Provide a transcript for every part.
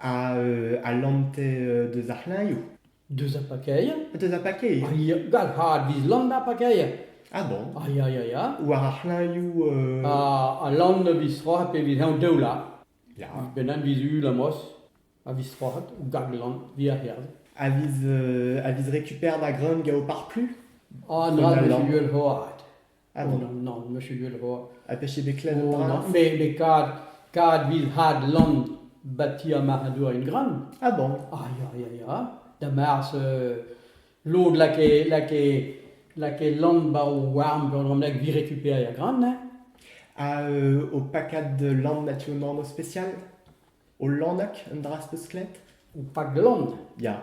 a lante deus ar c'hlañioù. Deus ar pakeir? Deus ar pakeir. Gall had viz lann ar pakeir. Ah bon? Ah ya ya ya. War ar c'hlañioù... A lann viz stroc'het pe viz heñv daoula. Ya. Benn viz ul amos a viz stroc'het ou gag lann viz ar c'herz. A viz, a viz récupère da greun gant ho parplu? Ah, na viz ul c'hoad. Ah non, non, non, monsieur Delroy. Ha peche bet klevet an dra Me, me kad, kad vil had land bati ar marc'hadour en gran. Ah bon Ah ya, ya, ya. Da mars, euh, lod lake, lake, lake land ba o warm gant an lag vi récupérer a gran, hein. Ha euh, au pakad de land natu an orno spécial Au landak, un dra speus klet Ou pak land. Ya.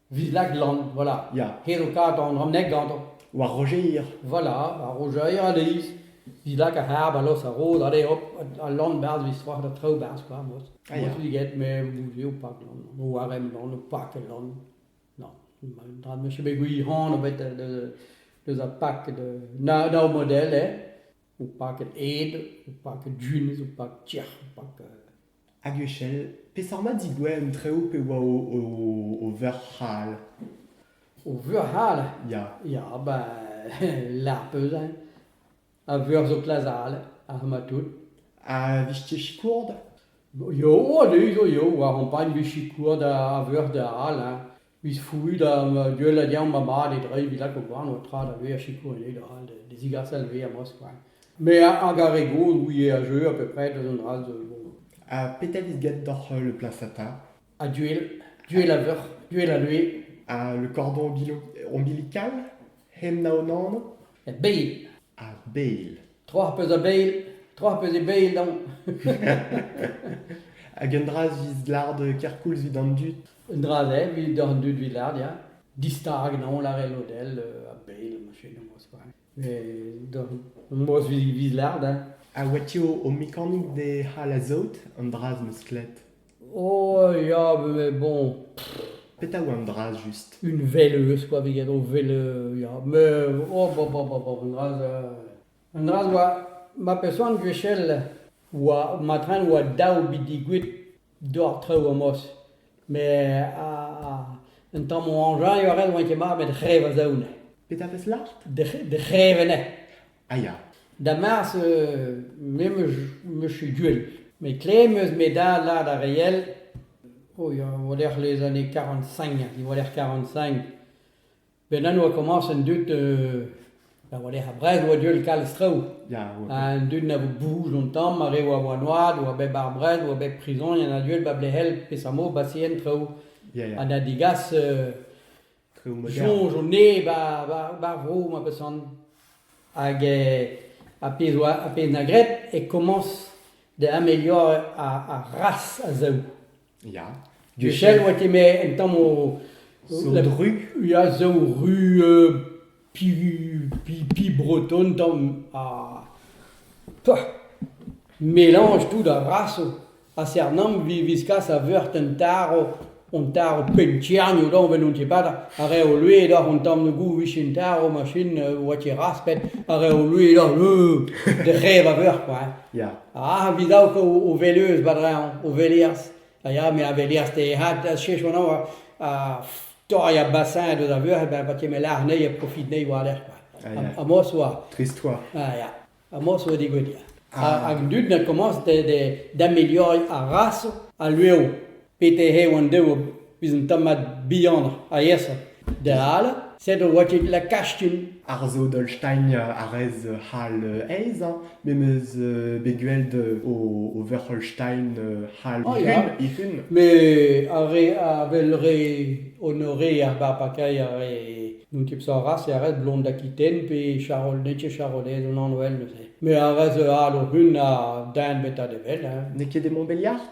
Vid Laglan, voilà. Ya. Hed o kadañ an ramneg gantañ. War Rojeir. Voilà, ar Rojeir a-leizh. Didak ar c'hab a los ar rod, ale hop, al lann berzh vez war da traoù berzh kwa, mod. Ah, ya. Mod get, me boudio pak lann, o warem lann, o pak el lann. Non, ma- dra meche bet gwir-hont bet de- deus ar pak de na daou model, eh. O pak ed ed, o pak dun, o pak tiec'h, o pak euh, Hag echel, peseurt mat digouez an traoù pe oa o, o, o veur c'hal? O veur c'hal? Ya. Ya, ben, lar peus hein. A veur zo klazal, ar ma tout. A vije sikour da? Yo, a-du zo yo, war ampagn vez sikour da a veur da all hein. 'vit fourrut ma gueul ha diañ ma mad e dreiñ 'vit lakaout warno tra da vezañ sikour eo dal da zigaset ar vezañ moskvañ. Me hag ar re gozh ouie a jeu a peu pred eus an dra-se zo bon. Ha petra vit get doc'h le placenta? Ha duel, duel a veuc'h, duel a lue. Ha le cordon ombilical, hemp na an anv? Met beil. Ar beil. Tro ar pezh a beil, tro ar pezh e beil dont. Hag un dra 'vis lard kerkoulz 'vit an dud. Un dra-se evit d'an dud Vilardia, distag en holl ar elodell a bell ma fenoz quoi. Et dans Mos Villard, Ha oa ti o, o mekanik de c'hall a-saout an draz m'eus klet. oh ya, mais bon, Petra oa an draz just? une veleuse quoi, viget o vele, ya, mais oh bon, bon, bon, bon, un draz, euh, un draz oa, ma pesoan gwechel, oa, ma tren oa daou bi digouet doar traoù amos met un tamm o añjaio a rel oan ket mat met re va zaoù-ne. Petra peus lâret? De c'hrevenez. Ah ya. Da mars me me suis duel met kle meus me dad lâret ar reiel o ya o lec'h les années 45 diwaller 45 Ben an oa komañs an dud euh, da war-lerc'h ar brez oa deuet kalz traoù. Ya, oa ket. Ha an dud na vo bouj un tamm, ar re oa war noad, oa bet bar brez, oa bet prison, il y en a deuet ba blehel pesammo ba sien traoù. Ya, ya. Ha da digas euh, Traoù modern. soñj o ne ba, ba, ba vro ma pesan. Hag euh, a pezh oa a pezh na gret e komañs da ameliorañ ar ar ras a zaou. Ya. Duchel oa kemer en tamm o... Zo la- dru? Ya, zo ru euh, pi, pi, pi breton tamm ha... peuh, melanj tout a vraso. A Cernam vi viskas a veurt un taro, un taro pentirnio da, vel on tepata, a rae o lue da an tamm de gou vichen taro machin euh, oa ket raspet, a rae o lue da, euh, de rev a veur kwa. hein. Ya. Ah, vidauko o veleuz badreñv, o veleaz. A ya, me a veleaz te had a chesh anao a torri a bassin deus a veur, ben, pa keme lar anezhi a profit anezhi war-lerc'h. Ah, ya. Ha mos oa, Trist oa. ah ya, ha mos oa digout ya. Ah. Hag dud ne commence de- de- d'ameliorei ar raso al lueoù. Peter eo an deuob ouzh un tammad bihanoc'h aesoc'h. Da all, sed oa ket la Kastum. Ar Zodolstein a rez c'hall aes, hein, me 'meus bet gweld o Wörcholstein c'hall Ah, ya. ifun, ifun. Mais ar re a vel re honoré ar barpakailh ar re n'on ket sañras e ret blond d'Aquitaine pe Charol n'eo ket Charolais an anv all neuze. Mais ar re zo all o hun a daen bezañ da wel, hein. N'eo ket e Montbéliard?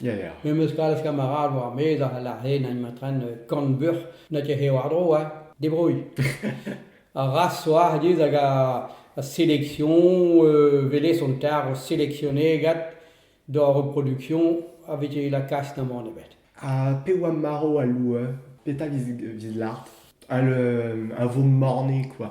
Ya, ya. Me 'm eus kalz kamarad war ar maez a c'hell ar c'hlen en ma tren kant buc'h na ket eo war-dro, hein. Debrouilh. Ar raz zo aet hag a selection, welez on tard o seleksionet gant d'ar reproduction a vije lakaet da mont ebet. Ha pe oa marv al loueur? Petra 'vis lâret? Al vo morne, quoi.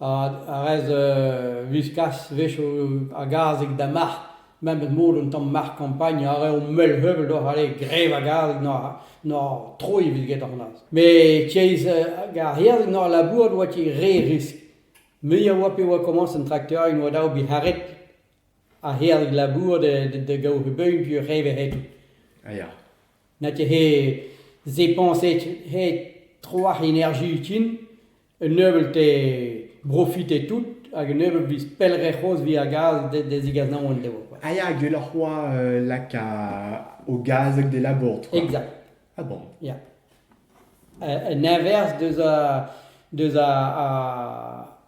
a rez wiskaz a-wechoù a-gazeg da marc'h, memes mod un tamm marc'h-kampagn a raio mell-heuvell deoc'h ale grev a-gazeg n'oc'h troiñ evit get c'hoazh. Met tiez ar yerzhig n'oc'h labourat oa tiez re riskl. Mui a oa pe oa komañs an trakteurien oa dav bet c'haret ar yerzhig labourat da gaout he beugn pe reiñ he c'hetoù. A ya. Na tiez he zañpañs he tro ar enerji utin. Un nebeut eo brofite tout hag un nebeut viz pellec'h c'hoazh via gaz da zigas naon endeo quoi. Ah ya, gwelloc'h c'hoazh euh, lak au gaz hag des labours, toi. Exact. Ah bon Ya. Un inverse deus a deus a, a,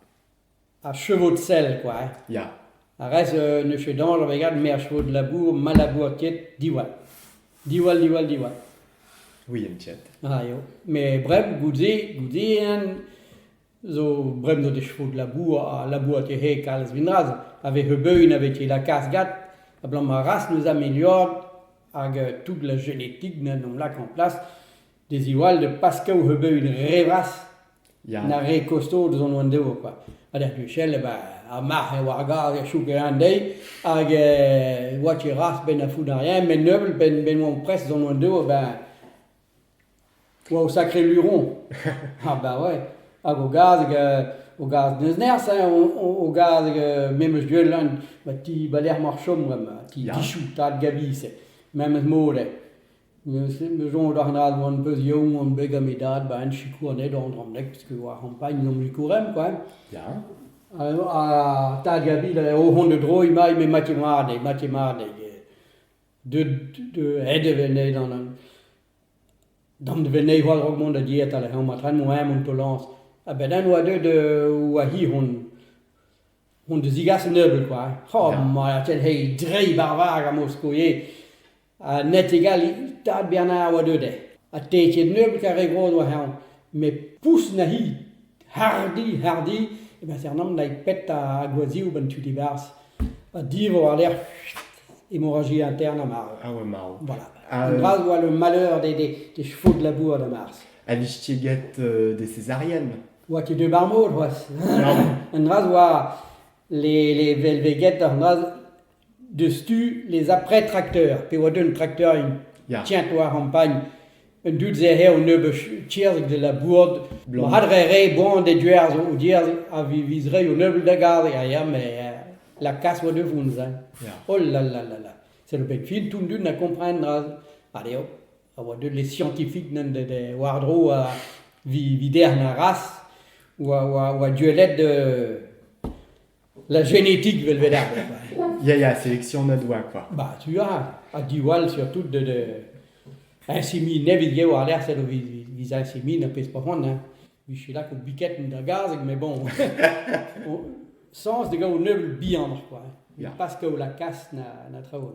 Ar chevod-sell kwa. Ya. Ar rez euh, ne fait dañjer a-wegad me ar chevod-labour ma labour ket diwall. Diwall, diwall, diwall. Oui, un tiet. Ah, eo. Mais bref, goude, goude en zo bremdo de chevod-labour ha labour te he kalz vinraz avait heubeun avec la casgade ablamour ras nous améliore hag euh, toute la génétique n'en lak en place de ziwall de paskaoù ebet re vras Ya. na re kosto deus an oan-devo kwa. Ha d'er puchell, eh ben, ar marc'h eh oa ar gaz er chouk eun deiz, hag eh oa tu ras benn a founarien, met neubeut benn benn oan prest d'an oan-devo, eh ben, oa o sakre luron. Ha ben ouais, hag o gaz, hag, eh, o gaz n'eus nerzh, hein, o, o, o gaz, hag eh, me meus deuet lan, ma ti, ba lec'h mar chom bremañ, ti Ya. Dichou, tad Gabi, c'est, memes mod, eh. Neuze em eus soñj d'ar c'hanañ on peus young on bet gant me dad ba hent sikour anezhañ Dramneg parce que war c'hampagn omp e Kourem quoi ya ha tad Gabi o vont da droiñ mailh met matje mat-nez matje mat-nez deut aet e vennez d'an vennez war-dro mont da dietal hemañ ma traoñ moa mont tolañs a-benn eñ oa deuet oa hi hon da zigas un nebeud quoi ha ma tell he dreiñ barvar gant Moskoe Ha Net-e-Galli, tad Bernard a oa deuet eo. Ha te ket nebeut ar re gozh war eeun, met poulz na hi. Hardi, hardi, e Bethernam dai pet a gwazhioù ba'n tu dibarzh. Ha divor war-lerc'h hemorragia intern ha marv. Ah oa marv. Voilà. Un dra zo le malheur des, des, des chevaux de labour da Mars. Ha vez ket get euh, des césariennes oa ket deuet ba'r mod c'hoazh. Un dra zo oa les, les velveged, an dra Diouzhtu les après-tracteurs pe oa deut trakteurin Ya. Tiens, toi, Ampagn, un dud zo eo un nebeud tierzh de la bourd. Blanc. Ma hadre re boan de duer zo, o dier a viz re o nebeud da garg a ya, mais euh, la casse oa de vounz. Hein. Ya. Oh là là là là. C'est le bet fin tout dun a comprendre dra a eo. A oa deut les scientifiques nen de, de war-dro a vi, vider na ras, oa, oa, oa duellet de La génétique veulent vedere. Ya, ya, sélectionnat doa quoi. Bah, tu as, ha diwall surtout de, de insémie, ne vid eo ar lec'h, eo vid, vid insémie, na pezh profond, hein. Vit je là, biquette da gazeg, mais bon, sens de gaou nebeul bihan, quoi. Yeah. Parce que la casse na, na travaux.